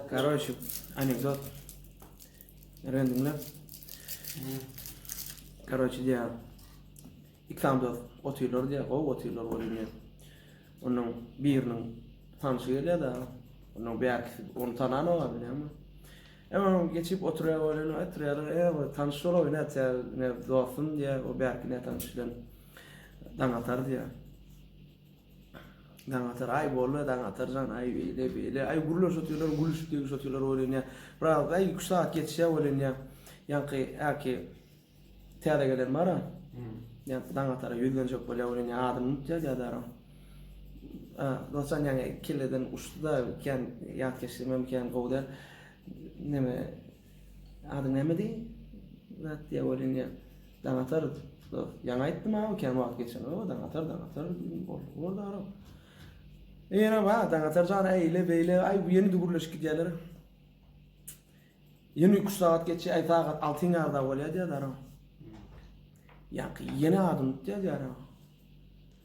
Karoç, anekdot. Röň diňläp. Karoç diýä. İkram dost otyrlar diýä, gowy otyrlar bolýar diýä. Onuň biriniň tanşy gelýär da, onuň bärkisi onu tanan olar bilýärmi? Emma onuň geçip oturýar bolýar, oturýar, e, o tanş şol oýna atýar, ne dostum diýä, o bärki ne tanş bilen daň atar diýä. Daňatar, aý boldy, Daňatar jan, aý beýle, beýle, aý gürleşip otyrlar, gülüşip degişip otyrlar welin, ýa, biraz, aý, iki-üç sagat geçýär welin, ýa, ýaňky, äki, täze gelen bar-a, ýaňky Daňatara ýüzlenjek bolýar welin, ýa, adyny unutýar, ýa, daragam. A, Dostjan ýaňy kelleden uçdy-da, kän ýatkeşligimem kän gowy däl, neme, Adyň nämedi? Zat diýä welin ýa daň atarys. Ýaňy aýtdym awy kän wagt geçen. O daň atar, daň atar. Boldy, boldy aram. Ýene ba, daň atar jara eýle beýle. Aý bu ýene gürleşip gidýärler. Ýene üç sagat geçýär, aý sagat 6-yň ýarda bolýar diýýär aram. Ýaňky ýene adyny tutýar diýýär aram.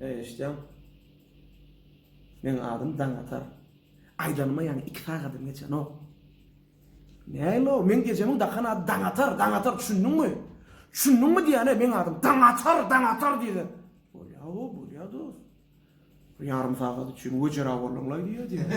Eý eşitýäň. Meň adym Daňatar. Aýdanyma ýaňy iki sagadam geçenok. Näme o? Meň ejemiň dakan ady Daňatar, Daňatar düşündiňmi? Düşündiňmi diýäne meň adym Daňatar, Daňatar diýdi. Bolýa o, bolýa dost. Bir ýarym sagat üçin wejera bolduňlaý diýýä diýdi.